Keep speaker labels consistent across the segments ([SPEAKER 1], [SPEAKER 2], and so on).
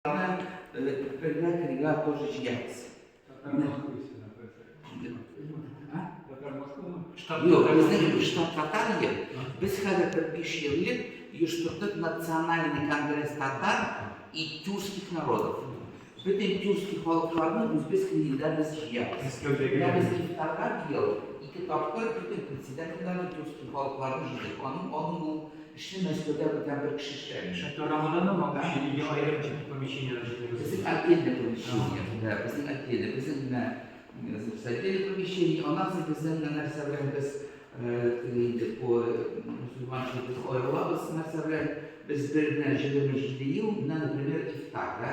[SPEAKER 1] Бергә кергә тоже җигәбез. Юк, безнең штат татар ел. Без хәзер бер биш ел элек оештырдык национальный конгресс татар и тюркских народов. Бөтен тюркский халыкларны үзбез илдә без җыябыз. Менә без ифтарга быел ике тапкыр бөтен председательләрне тюркский халыкларны җыйдык. Аның аның ул Эшне Мәскәүдә бүтән бер кеше эшләгән. Эшне Карамаданда ма кеше ике аерым тип помещениедә эшлибез. Безнең отдельный помещение, да, безнең отдельный, безнең менә значит отдельный помещение, аннан соң безнең менә нәрсә белән без теге инде бу мусульман җир без аерылабыз нәрсә белән, без бер генә җиреме җиде ел, менә например ифтар, да,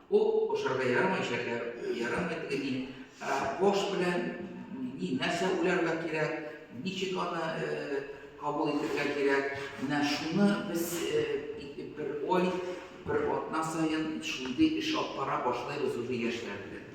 [SPEAKER 1] Ул ашарга ярамый шәкәр, ярамый теге ни. Ә кош белән ни нәрсә уйларга кирәк, ничек аны э, кабул итәргә кирәк. Менә шуны без э, бер ой, бер атна саен шундый эш алып бара башлыйбыз уже яшьләр белән.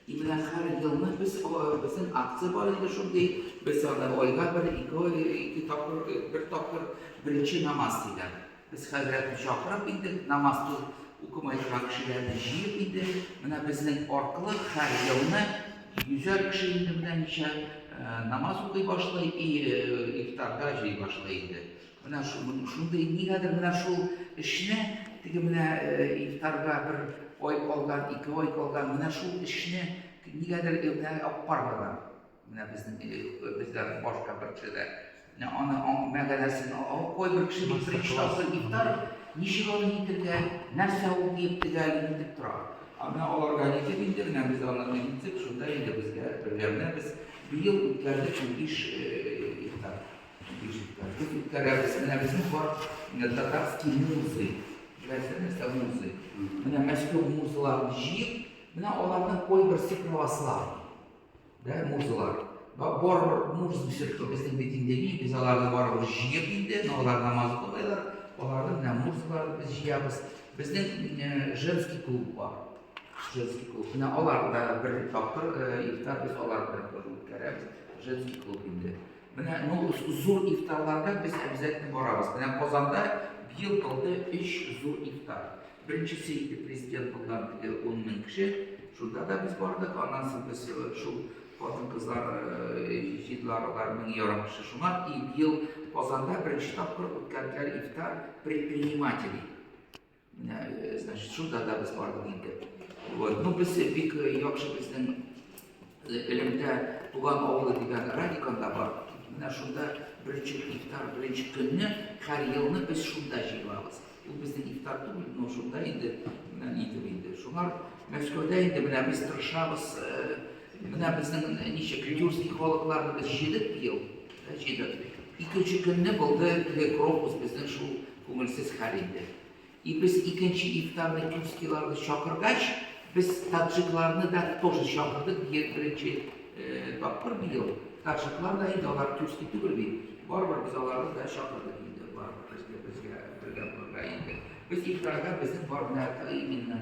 [SPEAKER 1] И менә хәр елны без безнең акция бар инде шундый, без аны айга бер ике ике тапкыр бер тапкыр беренче намаз диләр. Без хәзрәтне чакырып инде намаз ту укымай торган кешеләрне җыеп инде менә безнең аркылы хәр елны йөзәр кеше инде менә ничә намаз укый башлый и ифтарда җый башлый инде. Менә шундый, нигәдер менә шул эшне, теге менә ифтарга бер ай калган, ике ай калган, менә шул эшне нигәдер менә аппарларга, менә безнең безләрнең башка бер кешеләр, менә аны мәгәнәсен алып кой бер кеше бик иштасы ифтар, ничек аны итергә, нәрсә ул дип тегәл итеп тора. Ә менә аларга ничек инде менә без аны итсек, шунда инде безгә бергә менә без быел үткәрдек унбиш ифтар. Тут үткәрәбез. Менә безнең бар татарский музы. Беләсезме, нәрсә музы? Менә Мәскәү музыларын җыеп, менә аларның кайберсе православ. Да, музылар. Бар муз ишетте безнең бит инде ни, без аларны барыбыз җыеп инде, алар намаз укыйлар, аларның менә музыларын без җыябыз. Безнең женский клуб бар. Женский клуб. Менә алар да бер тапкыр ифтар без алар белән үткәрәбез. Женский клуб инде. Менә ну зур ифтарларга без обязательно барабыз. Менә Казанда быел булды өч зур ифтар. Беренчесе иде президент булган теге 10 мең кеше. Шунда да без бардык. Аннан соң без шул хатын-кызлар җыйдылар алар мең ярым кеше. Шуңа и быел Казанда беренче тапкыр үткәрделәр ифтар предпринимателей. Менә, значит, шунда да без бардык инде. Вот. Ну, без бик яхшы безнең элемтә туган авылы дигән радиканда бар. Менә шунда беренче ифтар, беренче көнне һәр елны без шунда җыелабыз. Ул безнең ифтар түгел, но шунда инде менә нидер инде. Шуңа Мәскәүдә инде менә без тырышабыз. Менә безнең ничек тюркский халыкларны без җыйдык быел. Рәшидов. Икенче көнне булды теге крокус безнең шул күңелсез хәл инде. И без икенче ифтарны тюркскийларны чакыргач, без таджикларны да тоже чакырдык, бие беренче тапкыр быел. Таджиклар да инде алар тюркский түгел бит. Барыбер без аларны да чакырдык инде, барыбер безгә бергә булырга инде. Без ифтарга безнең бар гына именно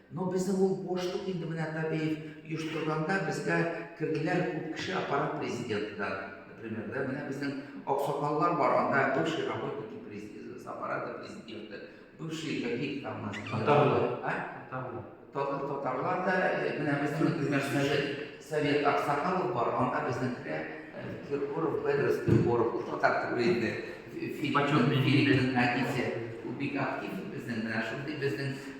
[SPEAKER 1] Но безнең ул бошлык инде менә Табеев оештырганда безгә керделәр күп кеше аппарат президенты да например да менә безнең аксакаллар бар анда бывший работники с аппарата президента бывший какие там у нас татарлар а татарлар татарлар да э, менә безнең например совет совет аксакалов бар анда безнекеләр э, киркоров педрос киркоров ул татар түгел инде филиппин әтисе ул бик актив безнең менә шундый безнең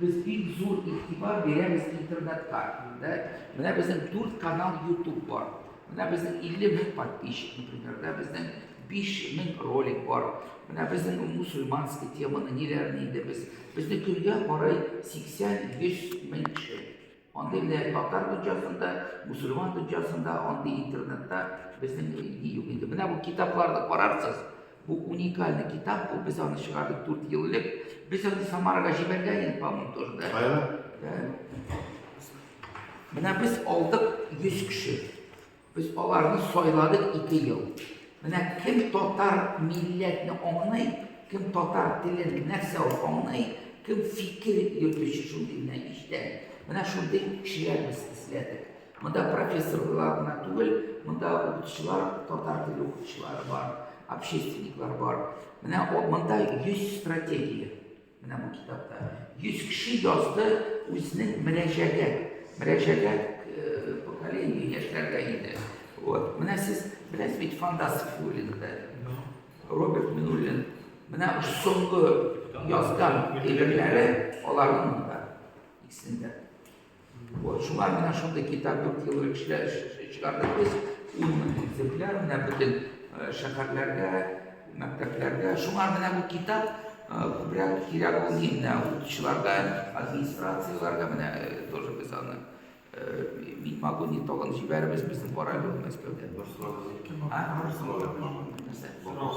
[SPEAKER 1] Без бик зур игътибар бирәбез интернетка. Инде менә безнең 4 канал YouTube бар. Менә безнең 50 мең подписчик, например, да безнең 5 мең ролик бар. Менә безнең мусульманский теманы ниләрне инде без. Безне көнгә карый 80-100 мең кеше Андый менә татар дөньясын да, мусульман дөньясын да, андый интернетта безнең ни юк инде. Менә бу китапларны карарсыз, бу уникальный китап бу, без аны чыгардык 4 ел элек. Без аны Самарага җибәргән идек, по-моему, тоже, да? Кая? Менә без алдык 100 кеше. Без аларны сайладык ике ел. Менә кем татар милләтне аңлый, кем татар телен нәрсә ул аңлый, кем фикер йөртүче шундый генә иштән. Менә шундый кешеләр без эзләдек. Монда профессорлар гына түгел, монда укытучылар, татар теле укытучылары бар, общественниклар бар. Менә монда 100 стратегия. Менә бу китапта 100 кеше язды үзенең мөрәҗәгәт, мөрәҗәгәт э, поколение яшьләргә инде. Вот. Менә сез беләсез бит фантастик юлында. Роберт Минуллин менә соңгы язган әйберләре аларның да икесендә. Вот, шулай менә шундый китап дүрт ел элек чыгардык без. Ун мең экземпляр менә бөтен э, шәһәрләргә, мәктәпләргә. Шуңа менә бу китап э, күбрәк кирәк ул инде укучыларга, администрацияләргә менә э, тоже без аны мин могу не толын җибәребез безнең барабыз ул Мәскәүдә. Бер сорау.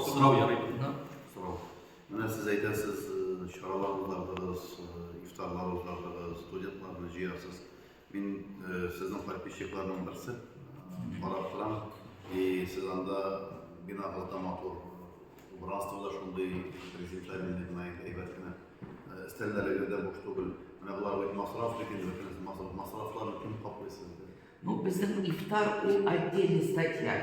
[SPEAKER 1] Сорау ярый. Сорау. Менә сез әйтәсез, чаралар уздырдыгыз, ифтарлар уздырдыгыз, студентларны җыярсыз. Мин сезнең подписчикларның берсе, карап торам. И сез анда бина гата матур, убранство да шундый презентабельный гына, әйбәт кенә. Өстәлләрегез дә буш түгел. Менә болар бит масраф бит инде, бөтенесе масрафларны кем каплый сезгә? Ну безнең ифтар ул отдельный статья.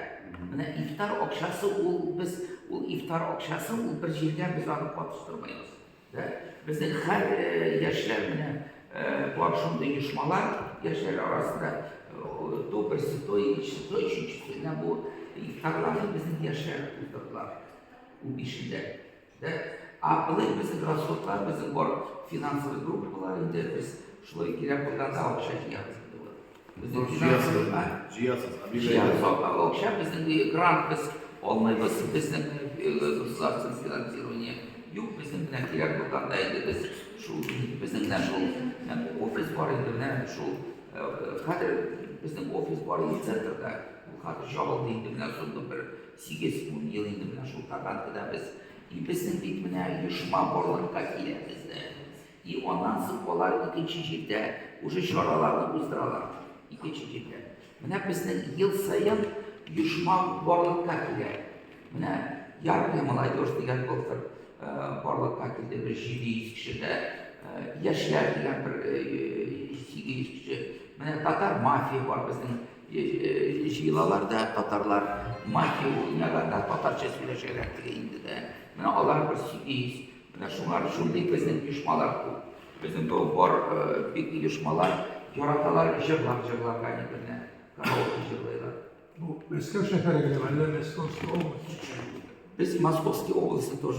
[SPEAKER 1] Менә ифтар акчасы ул без ул ифтар акчасы ул бер җиргә без аны катыштырмыйбыз. Да? Безнең һәр э, яшьләр менә э, бар шундый оешмалар яшьләр арасында э, то берсе, то икенчесе, то өченчесе. Менә бу ифтарларны безнең яшьләр уздырдылар. Ул бишендә. Дә, а былай безнең расходлар, безнең бар финансовый группалар инде, без шулай кирәк булганда акча җыябыз инде вот. Безнең финансовый, а? Җыясыз, а бирә. Җыябыз акча, безнең грант без алмыйбыз, безнең государственное финансирование юк, безнең белән кирәк булганда инде без шул безнең белән шул офис бар инде менә шул хәзер безнең офис бар инде центрда. Ул хәзер җабылды инде менә соңгы бер Сигез-ун ел инде менә шул Татаркада без иписең дип менә оешма барлыкка килә бездә. И аннан соң алар икенче җирдә уже чараларны уздыралар. Икенче җирдә. Менә безнең ел саен оешма барлыкка килә. Менә Яркая молодежь дигән былтыр барлыкка килде. Бер 700 кеше дә яшьләр дигән бер 800 кеше. Менә Татар мафия бар безнең Җыелалар да татарлар, мафия уйнала да, татарча сөйләшәләр теге инде дә. Менә алар бер сигез. Менә шулар, шундый безнең оешмалар күп. Безнең бу бар бик оешмалар яраталар җырлап җырларга әйберләр. Караоке җырлыйлар. Бу Мәскәү шәһәре генәме, әллә Мәскәүская область? Без Московский областе тоже